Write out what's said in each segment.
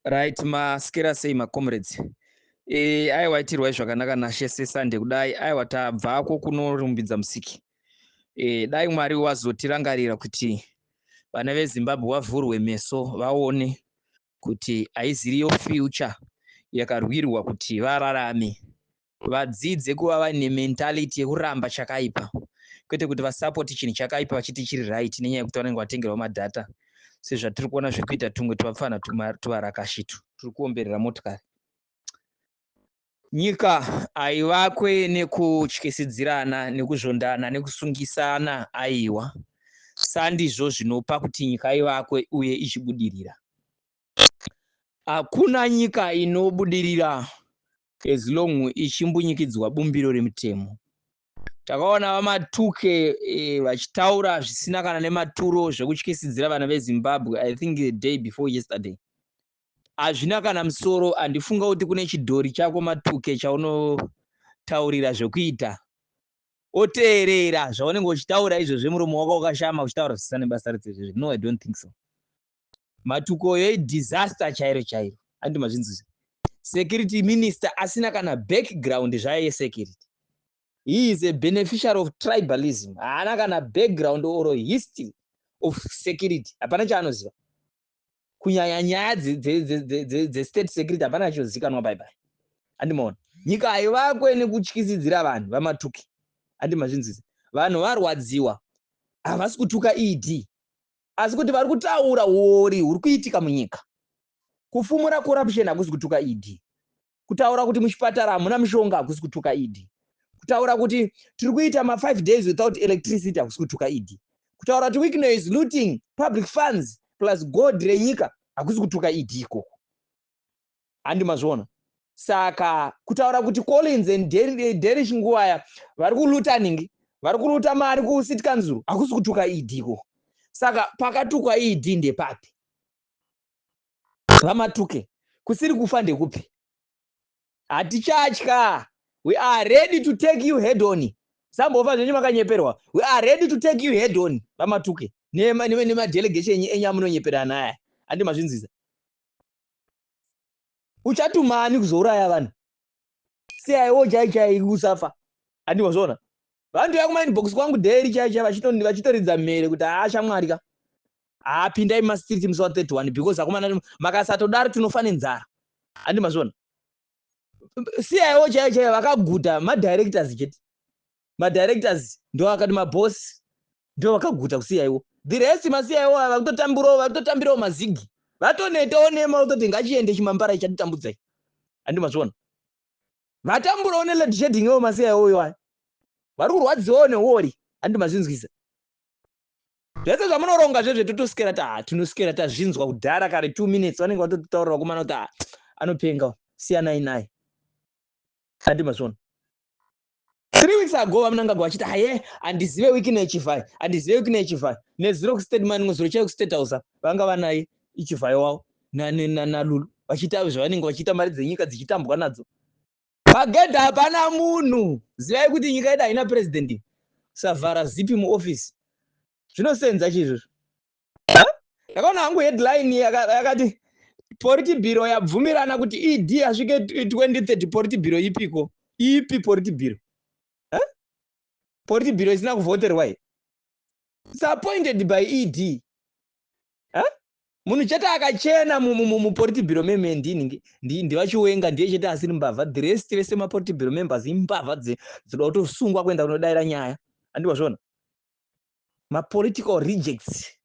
right maskera sei macomrades e, aiwa itirwai zvakanaka nashe sesande kudai aiwa tabvako kunorumbidza musiki e, dai mwari wazotirangarira kuti vana vezimbabwe wavhurwe meso vaone kuti haiziriyo future yakarwirwa kuti vararame Vadzidze kuva vaine mentality yekuramba chakaipa kwete kuti vasapoti chinhu chakaipa vachiti chiri right nenyaya yekuti vanenge vatengerwa madhata sezvatiri kuona zviri kuita tumwe tuvapfana tuvarakashitu turi kuomberera motikari nyika haivakwe nekutyisidzirana nekuzvondana nekusungisana aiwa sandizvo zvinopa kuti nyika ivakwe uye ichibudirira hakuna nyika inobudirira as long ichimbunyikidzwa bumbiro remutemo. Takaona VaMatuke eh, vachitaura zvisina kana nematuro zvekutyisidzira vana veZimbabwe I think the day before yesterday. Hazvina kana musoro, handifunga kuti kune chidhori chako Matuke chaunotaurira zvekuita oteerera zvaunenge uchitaura izvozvi muromo wako wakashama uchitaura zvisina nebasa rese izvozvi no I don't think so matukoyo idisaster chairo chairo andi mazvinzwisa security minister asina kana background zvaye security he is a beneficiary of tribalism haana kana background or history of security hapana chaanoziva kunyanya nyaya dzestate security hapana chiozikanwa baibai andimaona nyika haivakwe nekutyisidzira vanhu vamatuki andi mazvinzwisa vanhu varwadziwa havasi kutuka ed asi kuti vari kutaura huori huri kuitika munyika. Kufumura corruption hakusi kutuka ED. Kutaura kuti muchipatara hamuna mushonga hakusi kutuka ED. Kutaura kuti tiri kuita ma 5 days without electricity hakusi kutuka ED. Kutaura kuti Wicknell is looting public funds plus gold renyika hakusi kutuka ED ikoko. handi mazviona saka kutaura kuti collins and derish nguvaya vari kulutaning vari kuluta mari kucity council hakusi kutuka ed ko saka pakatukwa ed ndepapi vamatuke kusiri kufa ndekupi hatichatya we are ready to take you head on sambova zvenyu makanyeperwa we are ready to take you head on vamatuke nemadelegation enyu amunonyeperana aya andi mazvinziza uchatuma ani kuzouraya vanhu siyaiwo chai chai usafa handi wazviona vanhu toya kumainbox kwangu dheri chai chai vachitoridza mhere kuti haa shamwari ka haa pindai mumastreet musi wa 31 because akomana makasatodaro tinofa nenzara handi mazviona siyaiwo chai chai vakaguta madirectors chete madirectors ndoakati maboss ndovakaguta kusiya iwo the rest masiya iwo ava kutotambirawo vari kutotambirawo mazigi vatonetawo nema kutoti ngachiende chimambara ichatitambudzai handi mazviona vatamburawo nelad shading iwo masiya iwo iwaya vari kurwadziwawo newori handi mazvinzwisa zvese zvamunoronga zvezve totosikera ta ah, tinosikera tazvinzwa kudhara kare two minutes vanenge vatototaurira vakomana kuti ah, anopenga siyanai naye handi mazviona Three weeks ago vamunangagwa vachiti haye handizive wiki ino yechivhayo handizive wiki ino yechivhayo nezuro kustate mani rimwe zuro chaiyo kustate house vanga vanaye ichivhayo wavo nalulu vachiita avo zvavanenge vachiita mari dzenyika dzichitambwa nadzo pagedha hapana munhu zivai kuti nyika yedu haina president savhara zipi muoffice zvinosenza chii izvozvo ndakaona hangu headline yakati poriti bhiro yabvumirana kuti ed asvike 2030 poriti bhiro ipiko ipi poriti bhiro poriti bhiro isina kuvhoterwa i its appointed by ed munhu chete akachena muporiti bhiro meme ndini ndivachiwenga ndiye chete asiri mbavha the rest vese maporiti bhiro members imbavha dzinoda kutosungwa kuenda kunodaira nyaya andiwazvona mapolitical rejects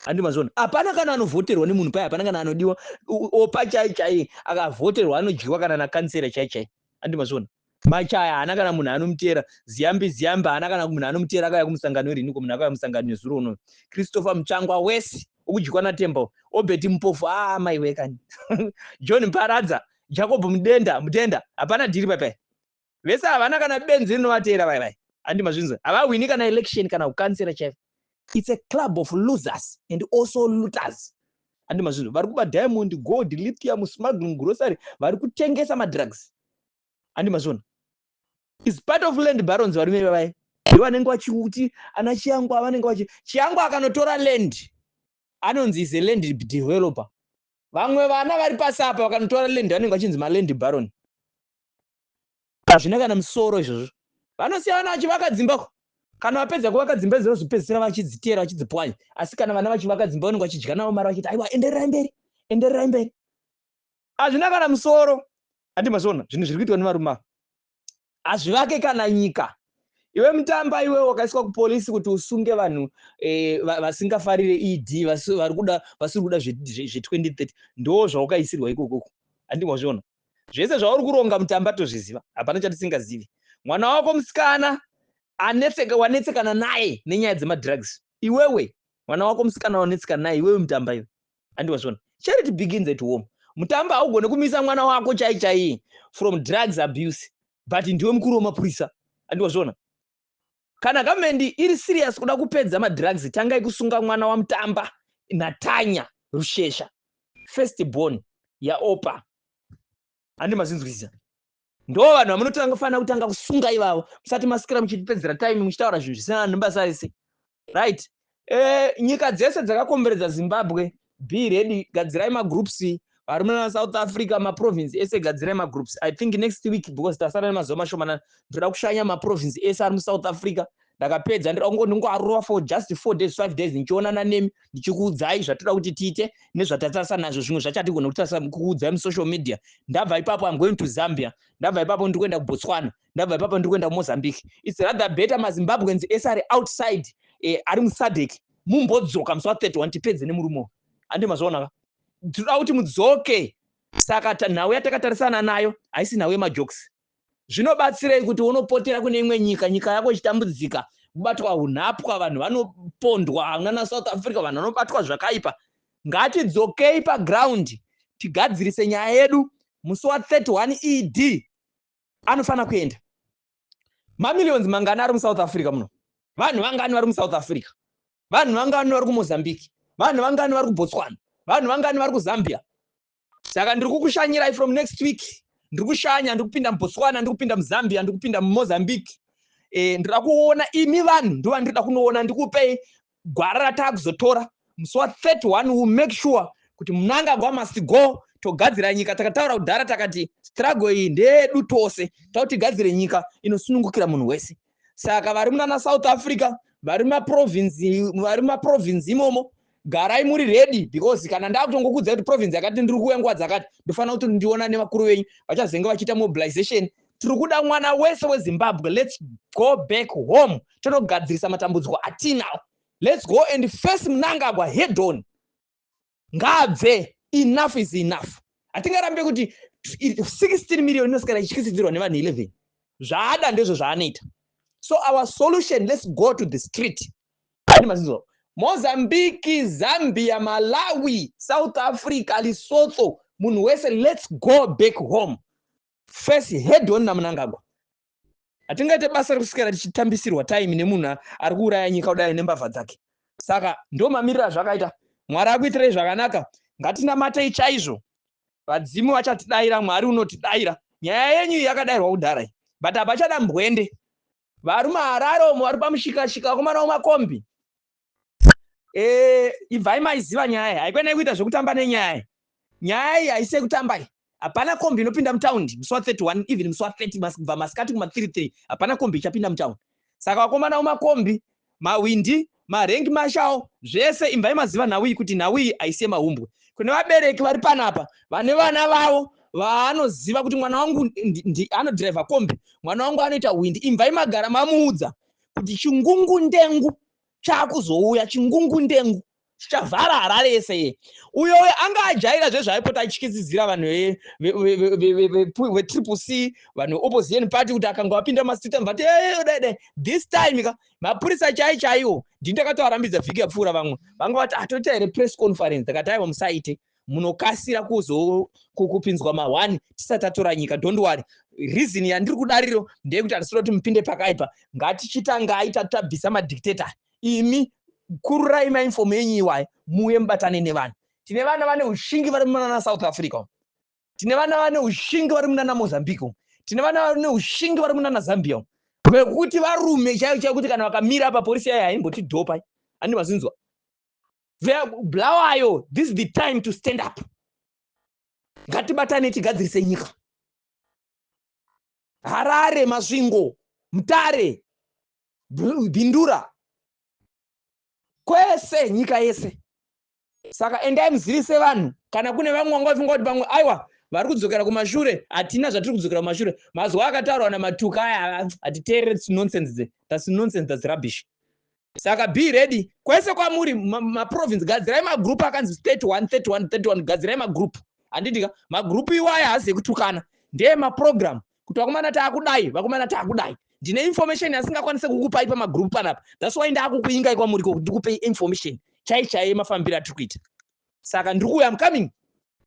handi mazviona hapana kana anovhoterwa nemunhu paye hapana kana anodiwa opa chai chai akavhoterwa anodyiwa kana nakansera chai chai handi mazviona machaya haana kana munhu anomutera ziyambi ziyambi haana kana munhu anomutera akauya kumusangano irini ko munhu akauya musangano nezuro unoyo christopher mutsvangwa wese ukudyiwa natembo obeti mupofu aa ah, mai wekani john mparadza jacob mudenda mudenda hapana dhiri papai vese havana kana benzi rinovateera vai vai handi mazvinzwa havahwini kana election kana kukansera chaiko its a club of losers and also looters handi mazvinzwa vari kuba diamond gold lithium smuggling grocery vari kutengesa madrugs handi mazviona is part of land barons varume vavai ndo vanenge vachiuti ana chiyangwa vanenge vachi chiyangwa akanotora land anonzi is a land developer vamwe vana vari pasi apa vakanotora land vanenge vachinzi maland baron Hazvina kana musoro izvozvo. Vanosiya vana vachivaka dzimba ko kana vapedza kuvaka dzimba idzo vozopedzisira vachidziteera vachidzipwanya asi kana vana vachivaka dzimba vanenge vachidya navo mari vachiti aiwa endererai mberi endererai mberi hazvina kana musoro handi mazviona zvinhu zviri kuitwa nevarume ava hazvivake kana nyika iwe mutamba iwe wakaiswa kupolisi kuti usunge vanhu eh, vasingafarire ed vari kuda vasiri kuda zve2030 ndo zvawakaisirwa ikokoko handi mazviona Zvese zvauri kuronga mutamba tozviziva hapana chatisingazivi. Mwana wako musikana anetseka wanetsekana naye nenyaya dzemadrugs. Iwewe mwana wako musikana wanetsekana naye iwewe mutamba iwe. Andi wazviona. Charity begins at home. Mutamba haugone kumisa mwana wako chai chai from drugs abuse but ndiwe mukuru wemapurisa. Andi wazviona. Kana government iri serious kuda kupedza ma drugs tangai kusunga mwana wa Mutamba na Tanya Rushesha first born ya Oppah handi mazvinzwisisa ndo vanhu vamunotanga fanira kutanga kusunga ivavo musati masikira muchitipedzera time muchitaura zvinhu zvisina basa ese right Eh, nyika dzese dzakakomberedza zimbabwe be ready gadzirai magroups varume vana south africa maprovince ese gadzirai magroups i think next week because tasara nemazuva mashomanana ndoda kushanya maprovince ese ari musouth africa ndakapedza ndoda kungo ndingoarova for just four days five days ndichionana nemi ndichikuudzai zvatoda kuti tiite nezvatatarisa nazvo zvimwe zvachatigona kutarisa kuudzai musocial media ndabva ipapo am going to zambia ndabva ipapo ndikuenda kubotswana ndabva ipapa ndiri kuenda kumozambique its rather better mazimbabweans ese ari outside eh, ari musadec mumbodzoka musi wa31 tipedze nemurume uyu handi mazvaonaka tinoda kuti mudzoke saka nhau yatakatarisana nayo haisi nhau yemajokes zvinobatsirei kuti unopotera kune imwe nyika nyika yako ichitambudzika kubatwa unhapwa vanhu vanopondwa hamuna nasouth africa vanhu vanobatwa zvakaipa ngatidzokei paground tigadzirise nyaya yedu musi wa 31 ed anofanira kuenda mamillions mangani ari musouth africa muno vanhu vangani vari musouth africa vanhu vangani vari kumozambique vanhu vangani vari kubotswana vanhu vangani vari kuzambia saka ndiri kukushanyirai from next week ndiri kushanya ndiri kupinda mubotswana ndiri kupinda muzambia ndiri kupinda mumozambique e, eh, ndira kuona imi vanhu ndovandiri da kunoona ndikupei gwara rataakuzotora musi wa 31 will make sure kuti munangagwa must go togadzira nyika takataura kudhara takati struggle iyi ndeyedu tose takuti gadzire nyika inosunungukira munhu wese saka vari munana south africa vari mumaprovinzi vari mumaprovinzi imomo garai muri ready because kana ndakutongokudzai kuti province yakati ndiri kuuya nguva dzakati ndofanira kuti ndiona nevakuru venyu vachazenge vachiita mobilization tiri kuda mwana wese wezimbabwe lets go back home tonogadzirisa matambudziko atinawo lets go and face munangagwa hedon ngaabve enough is enough hatingarambe kuti 16 million inosikana ichityisidzirwa nevanhu 11 zvaada ndezvo zvaanoita so our solution lets go to the street mazizo mozambique zambia malawi south africa lesotho munhu wese lets go back home face head on namunangagwa hatingaite basa rekuswera tichitambisirwa time nemunhu ari kuuraya nyika kudai nembavha dzake saka ndo mamiriro azvakaita mwari akuitirei zvakanaka ngatinamatei chaizvo vadzimu vachatidaira mwari unotidaira nyaya yenyu yakadairwa kudhara iyi but hapachada mbwende varume harare omo vari pamushikashika vakomana wemakombi eh ibvai maiziva nyaya iyi haikwenai kuita zvekutamba nenyaya iyi nyaya iyi haisi yekutamba iyi hapana kombi inopinda mutaundi musi wa 31 even musi wa 30 kubva masikati kuma 33 hapana kombi ichapinda mutaundi saka vakomana umakombi mahwindi marengi mashawo zvese imvai maziva nhau iyi kuti nhau iyi haisi yemahumbwe kune vabereki vari panapa vane vana vavo vaanoziva kuti mwana wangu anodhiraivha kombi mwana wangu anoita hwindi imvai magara mamuudza kuti chingungu ndengu chakuzouya chingungundengu chavhara harare yese ye uyo uyo anga ajaira zvezvaaipota achikizidzira vanhu vetriple c vanhu veopposition party kuti akanga vapinda mumastreet anhu vati dede eh, this time ka mapurisa chai chaiwo ndini ndakatovarambidza vhiki yapfuura vamwe vanga vati atoita ah, here press conference ndakati aiwa musaite munokasira kuzo kupinzwa mahwani tisati tatora nyika don't worry reason yandiri kudariro ndeyekuti hatisiro kuti mupinde pakaipa ngatichitangai tati tabvisa madictator imi kururai mainfomu enyu iwayo muuye mubatane nevanhu tine vana vane ushingi vari munana south africa tine vana vane ushingi vari munana mozambique tine vana vane ushingi vari munana zambia vekuti varume chaivo chaivo kuti kana vakamira apa porisi yayo haimbotidhopai andi mazinzwa Bulawayo, this is the time to stand up. Ngatibatane tigadzirise nyika. Harare, Masvingo, Mtare, Bindura, kwese nyika yese. Saka endai muzivise vanhu kana kune vamwe vanga vafunga kuti pamwe aiwa vari kudzokera kumashure hatina zvatiri kudzokera kumashure mazuva akataurwa namatuka aya hatiteerere nonsense dze thats nonsense thats rubbish saka be ready kwese kwamuri maprovince gadzirai magroup akanzi 31 31 31 gadzirai magroup handidika magroup iwaya haazi ekutukana ndeye maprogram kuti vakomana taakudai vakomana taakudai ndine information yasingakwanise kukupai pamagroup panapa thats why ndaakukuingai kwamuri ko kuti ndikupei information chai chaiye mafambiro atiri kuita saka ndiri kuuya am coming